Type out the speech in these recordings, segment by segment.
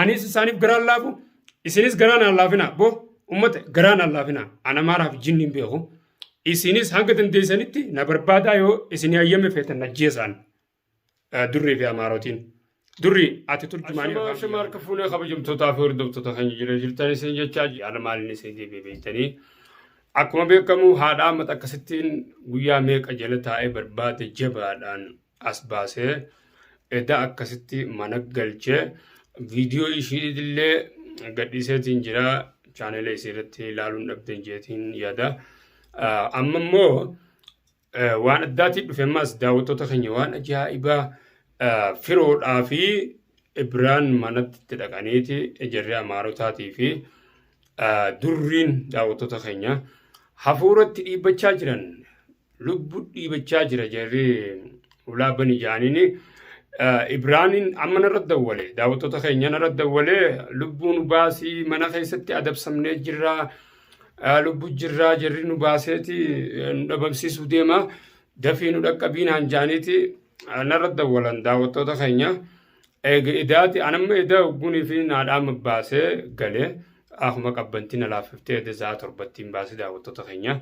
Anis isaaniif garaan laafu isinis garaan aan laafina boo ummata garaan aan laafina ana maaraaf jinni hin beeku isinis hanga dandeessanitti na barbaadaa yoo isin hayyame feetan na jeesaan durrii fi amaarotiin. Durri ati turjumaanii Ashama afaan shama harka fuunee kabajamtootaa fi hordoftoota keenya jira jirtan isin jechaa ji'aala maaliin isin deebi'e beektanii akkuma beekamu haadha ammata akkasittiin guyyaa meeqa jala taa'ee barbaade jabaadhaan as baasee edaa akkasitti mana galchee viidiyoo ishiitillee gadhiiseetiin jira chaanela isii irratti ilaaluun dhabdeen jeetiin yaada. Amma immoo waan addaatiin dhufe ammas daawwattoota keenya waan ajaa'ibaa firoodhaa fi Ibiraan manatti itti dhaqaniiti ijarri Amaarotaatii fi durriin daawwattoota keenya hafuuratti dhiibbachaa jiran lubbu dhiibachaa jira jarri ulaa bani jaaniin Ibraaniin amma narra dawwale daawwattoota keenya narra dawwale lubbuu nu baasii mana keessatti adabsamnee jirra lubbu jirra jarri nu baaseeti nu dhabamsiisuu deema dafii nu dhaqqabii naan jaaniiti narra dawwalan daawwattoota keenya eega idaati anamma idaa hoggunii fi naadhaama baasee galee akkuma qabbantiin alaafiftee edaa isaa torbattiin baasee daawwattoota keenya.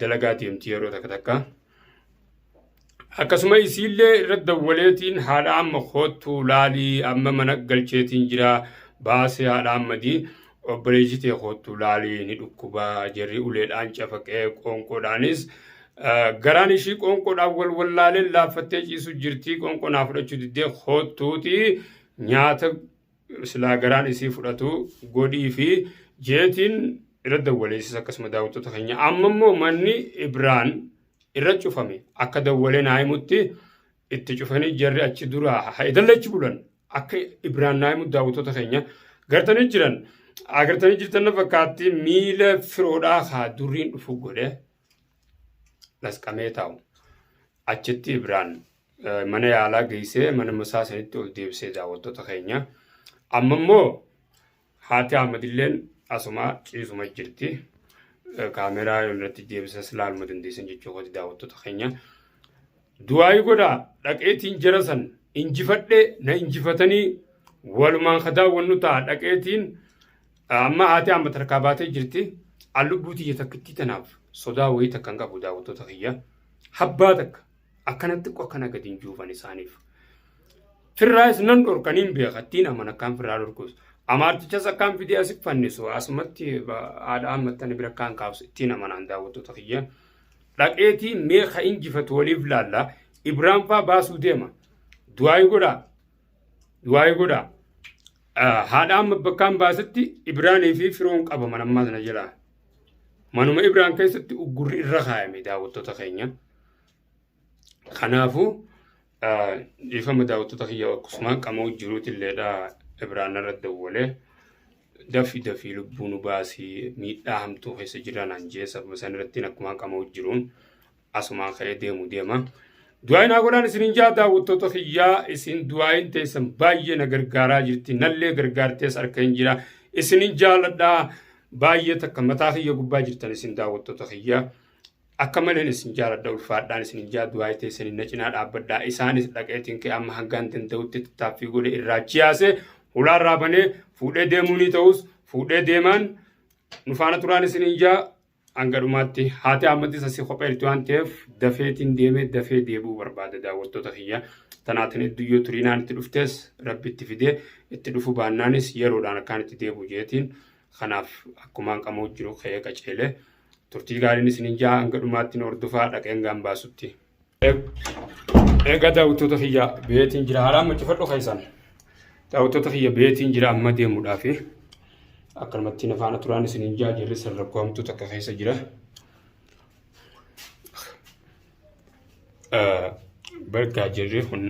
dalagaa deemti yeroo takka takka. Akkasuma isiillee irra dawwaleetiin haadha amma koottu laalii amma mana galcheetiin jira baasee haadha ammadii obboleessi tee koottu laalii ni dhukkuba jarri uleedhaan cafaqee qoonqoodhaanis garaan ishii qoonqoodhaan wal wallaalee laaffattee ciisu jirtii qoonqoo naa fudhachuu diddee koottuuti nyaata silaa garaan isii fudhatu godhii fi jeetiin irra dawwaleessis akkasuma daawwattoota keenya amma immoo manni ibraan irra cufame akka dawwalee naa himutti itti cufanii jarri achi dura haidalla achi bulan akka ibraan naa himutti daawwattoota keenya gartanii jiran agartanii jirtan fakkaatti miila firoodhaa haa durriin dhufu godhe dhasqamee taa'u. Achitti Ibraan mana yaalaa geessee mana masaa sanitti ol deebisee daawwattoota keenya. Amma immoo haati Ahmadilleen asuma ciisuma jirti. Kaameraa irratti deebisas ilaaluma dandeessan jechuu kooti daawwattoota keenya. Du'aayi godhaa dhaqeetiin jara san injifadhe na injifatanii walumaan ka daawwannu ta'a dhaqeetiin amma haati amma tarkaa baatee jirti an lubbuu tiyya takkittii tanaaf sodaa wayii takka hin qabu daawwattoota kiyya habbaa takka akkana xiqqoo akkana gadi hin juufan isaaniif. Firraayis nan dhorkaniin beekattiin aman akkaan firraa dhorkus amaartichas akkaan fidee asif fannisu asumatti haadha ammattani bira akkaan kaabsu ittiin amanaan daawwattoota kiyya. dhaqeetii mee ka injifatu waliif laalla ibraan faa baasuu deema du'aayi godhaa du'aayi godhaa Ah, haadha amma bakkaan baasutti ibraanii fi firoon qabaman ammaa sana jalaa manuma ibraan keessatti uggurri irra kaayame daawwattoota keenya kanaafuu Dhiifama daawwattoota kiyya akkasuma qamoo jiruutilleedha Ibraan irra dawwalee dafi dafii lubbuu nu baasii miidhaa hamtuu keessa jira naan jee sababa san irratti akkuma qamoo jiruun asumaa ka'ee deemu deema. Du'aayin haa godhaan isinin jaa daawwattoota kiyyaa isin du'aayin teessan baay'ee na gargaaraa jirti nallee gargaartees harka hin jira isinin jaaladhaa baay'ee takka mataa kiyya gubbaa jirtan isin daawwattoota kiyyaa. Akka maleen isin jaaladha ulfaadhaan isin hin jaaddu haayii teessaniin na cinaa dhaabbadhaa isaanis dhaqeetiin ka'e amma hangaan danda'utti tattaaffii godhe irraa chiyaase hulaa irraa banee fuudhee deemuu ni ta'us fuudhee deemaan nu faana turaan isin hin jaa hanga dhumaatti haati ammatti isa si kopheelti waan ta'eef dafeetiin deemee dafee deebi'uu barbaada daawwattoota kiyya tanaatiin idduyyoo turiinaan itti dhuftees rabbi itti fidee itti dhufu baannaanis yeroodhaan akkaan itti deebi'u jeetiin kanaaf akkumaan qamoo jiru ka'ee qaceelee. turtii gaariin isinin jaha hanga dhumaatti nu hordofaa dhaqeen gaan baasutti. Egaa daawwattoota kiyya beetiin jira haala amma cufadhu keessan daawwattoota kiyya beetiin jira amma deemuudhaafi akkanumatti na faana turaan isinin jaha jirri san rakkoo hamtuu takka keessa jira. Bargaa jirri kun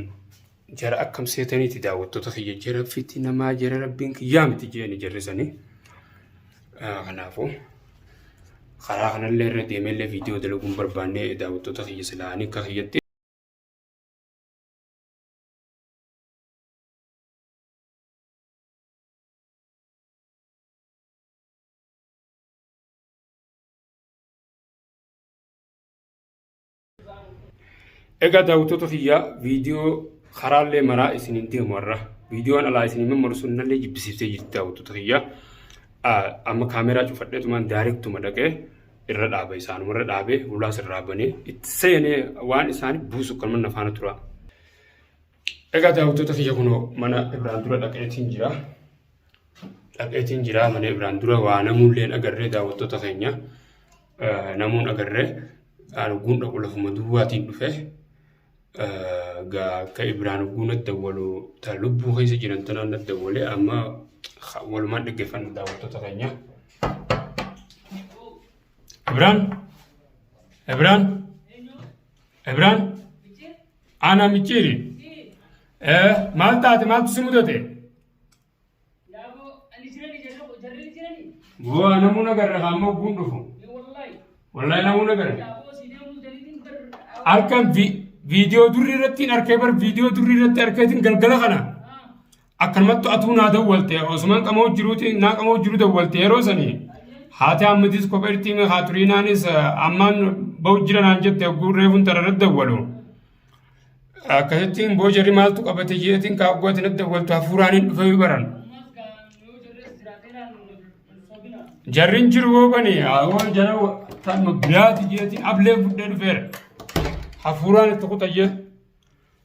jara akkam seetaniiti daawwattoota kiyya jara fiti namaa jara rabbiin kiyyaa miti jeeni jarri sanii. Kanaafuu karaa kanallee irra deemeellee viidiyoo dalaguun barbaannee daawwattoota kiyya silaanii akka kiyyatti. Egaa daawwattoota kiyyaa viidiyoo karaallee maraa isiniin deemu har'a. Viidiyoon alaa isiniin mammarsuun nallee jibbisiiftee jirti daawwattoota kiyyaa. Amma kaameeraa cufadheetumaan daareektuma dhaqee irra dhaaba isaanuma irra dhaabee hulaas irraa banee itti seenee waan isaanii buusu kanuma nafaana tura. Egaa daawwattoota kiyya kunoo mana Ibraan dura dhaqeetiin jira. Dhaqeetiin jira mana Ibraan dura waa namuulleen agarree daawwattoota keenya namuun agarree arguun dhaqu lafuma duwwaatiin dhufe. Egaa akka Ibraan arguun adda waloo ta lubbuu keessa jiran tanaan adda walee amma walumaan dhaggeeffanna daawwattoota keenya. Ibraan! Ibraan! Ibraan! Ana micciiri. Eh, maal taate maaltu si mudate? Waa namuu nagarra ammoo guun dhufu. Wallahi namuu nagarra. Halkan vi- viidiyoo durri irratti hin arkee bar viidiyoo durri irratti arkeetiin galgala kana. Akkanumattu atuu naa dawwalte osuman qamoo jiruuti naa qamoo jiru dawwalte yeroo sanii haati ammatis kopha irtii mee haa turiinaanis ammaan ba'u jira naan jette hogguu reefun tararra dawwalu. Akkasittiin boo jarri maaltu qabate jeetiin kaa hogguu ati natti dawwaltu hafuuraan hin dhufee baran. Jarrin jiru boo bani awoo jara tanuma biraati jeetiin ablee fuddee dhufeera. Hafuuraan itti kuta jeetu.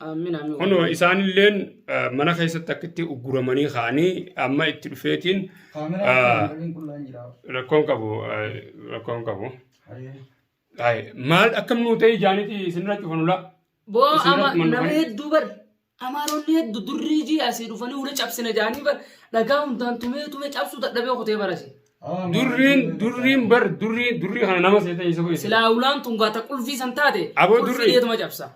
Amin amin. Kunoo isaanilleen ah, mana keessatti akka itti ugguramanii ka'anii amma itti dhufeetiin Kaameraa ah, kan waliin qullaan jira. rakkoon qabu ah, rakkoon qabu. Hayyee. Ay, Maal akkam nuu ta'e ijaaniiti isinirra cufanula. Boo Isin ama irratti manuma namni kan- hedduu bar amaaronni heddu durrii jii asii dhufanii wula cabsina jaanii bar dhagaa hundaan tumee tumee cabsuu dadhabee kutee barase. Aa, Durriin maal- durriin bar durrii durrii kana nama seeta isa bu'e. Silaa ulaan tun gaata qulfii san taate Aboo durri. qulfii deetuma cabsa.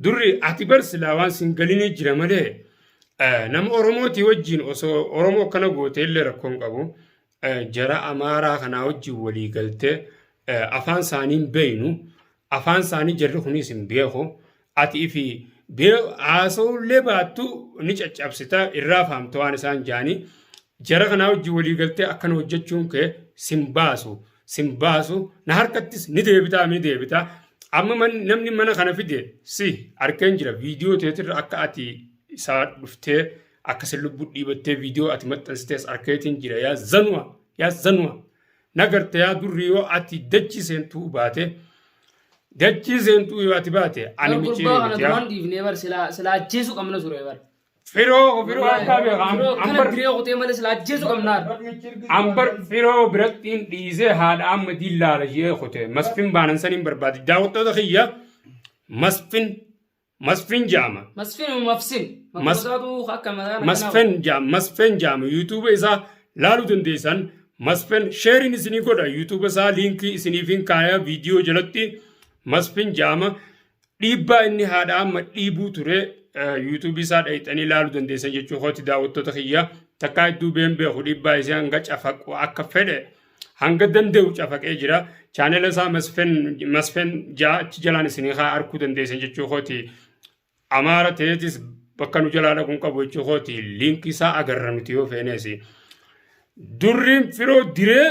Durri ati bar silaa waan sin galinii jira malee eh, nama Oromootii wajjin osoo Oromoo akkana gootee illee rakkoo hin qabu. Eh, Jara Amaaraa kanaa wajjin walii galtee eh, afaan isaanii hin beeynu. Afaan isaanii jarri kunis hin beeku. Ati ifi bee- haasa'uu illee baattu ni caccabsita irraa faamta waan isaan jaanii. Jara kanaa wajjin walii galtee akkana hojjechuun kee sin baasu. sin baasu na harkattis ni deebitaa ni deebitaa amma man- namni mana kana fide si arkeen jira viidiyoo teetirra akka ati isaa dhuftee akka sin lubbuu dhiibattee viidiyoo ati maxxansitees arkeetiin jira yaa zanua yaa zanua nagarte yaa durri yoo ati dachii seentuu baate dachii seentuu yoo ati baate ani Bar micii gurbaa kana mitiyaa duraan dhiifnee bar silaa silaa ajjeesuu qabna ture bar. Firoo firoo harkaa beekaa. Firoo kana Ambar diree kutee malee sila ajjeesu qabnaan. ambar firoo birattiin dhiisee haadha amma diillaala ishee kute masfin baanan saniin barbaade daawwattoota kiyya masfin masfin jaama Masfin mafsin. Mas- Maqasaatu akka mataa masfin jaama masfin jaama yuutuuba isaa laaluu dandeessan masfin sheeriin isinii godha yuutuuba isaa liinkii isiniifin kaaya viidiyoo jalatti masfin jaama Dhiibbaa inni haadha amma dhiibuu ture yuutuubii isaa dhayxanii ilaaluu dandeessan jechuu kooti daawwattoota kiyya takkaa hedduu been beeku dhiibbaa isaa hanga cafaqu akka fedhe hanga danda'u cafaqee jira chaanela isaa masfen ja'a achi jalaan isinii haa arkuu dandeessan jechuu kooti amaara ta'eetis bakka nu jalaa dhaquun qabu jechuu kooti liinkii isaa agarra nuti yoo feeneesi. Durriin firoo diree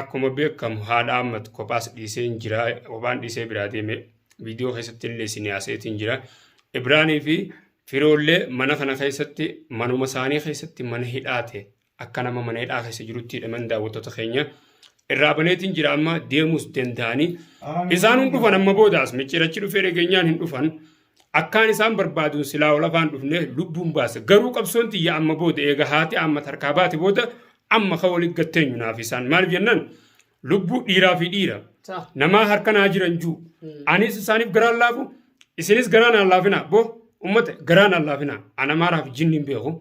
Akkuma beekamu haadha Ahmad kophaas dhiiseen jira. Kophaan dhiisee biraa deeme. Viidiyoo keessatti illee isin haaseetiin jira. Ibraanii fi firoollee mana kana keessatti manuma isaanii keessatti mana hidhaate akka nama mana hidhaa keessa jirutti hidhaman daawwattoota keenya irraa baneetiin jira amma deemuus danda'anii isaan hin dhufan amma boodaas micciirachi dhufee dhageenyaan hin dhufan Akkaan isaan barbaaduun silaa ol afaan dhufne lubbuun baasa. Garuu qabsoon tiyya amma booda eega haati amma tarkaa baate booda amma ka waliin gatteenyu naaf isaan. Maaliif jennaan lubbuu dhiiraa fi dhiira Sa. namaa harka naa jiran juu. Anis isaaniif garaan laafu isinis garaan aan laafinaa boo ummata garaan aan laafinaa ana maaraa fi jinniin beeku.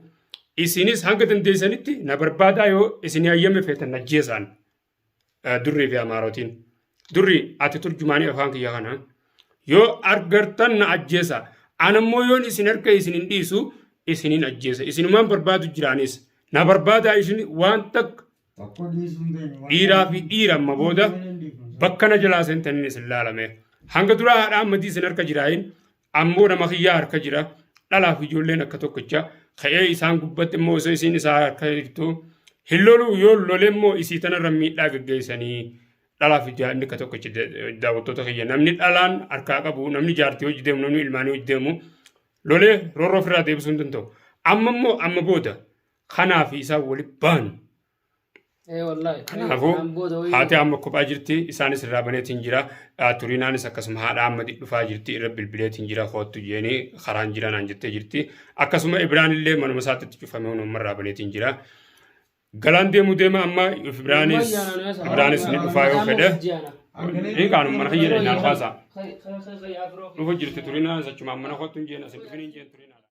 Isinis hanga dandeessanitti na barbaadaa yoo isin hayyame feetan na jeesaan. durrii fi amaarotiin durrii ati turjumaanii afaan kiyya kana yoo argartan na ajjeesa anammoo yoon isin harka isin hin dhiisu isinin ajjeesa isinumaan barbaadu jiraanis na barbaadaa isin waan takka dhiiraa fi dhiira amma booda bakka na jalaa seentan isin laalame hanga duraa haadhaa ammatii isin harka jiraayin Ammoo nama kiyyaa harka jira. Dhalaaf ijoolleen akka tokkicha. Ka'ee isaan gubbatti immoo osoo isiin isaa harka jirtu. Hin loluu yoo lole immoo isii tanarra miidhaa geggeessanii. Dhalaaf ijaa inni akka tokkicha daawwattoota kiyya. Namni dhalaan harkaa qabu, namni jaartii hojii deemu, namni ilmaanii hojii deemu. Lolee roorroo ofirraa deebisuu hin danda'u. Amma immoo amma booda kanaa fi isaan waliin baanu. Kanaafuu haati amma kophaa jirti isaanis irraa baneetiin jira turinaanis akkasuma haadha amma dhufaa jirti irra bilbileetiin jira hoottu jeenii karaan jira naan jettee jirti akkasuma Ibraan illee manuma isaatti itti cufamee hunuma irraa baneetiin jira. Galaan deemu deema amma Ibraanis Ibraanis ni dhufaa yoo fedhe ni kaanu mana kiyya dhaqnaan haasaa. Dhufu jirti turinaanis achumaan mana hoottu hin jeen asin dhufin hin jeen turinaa.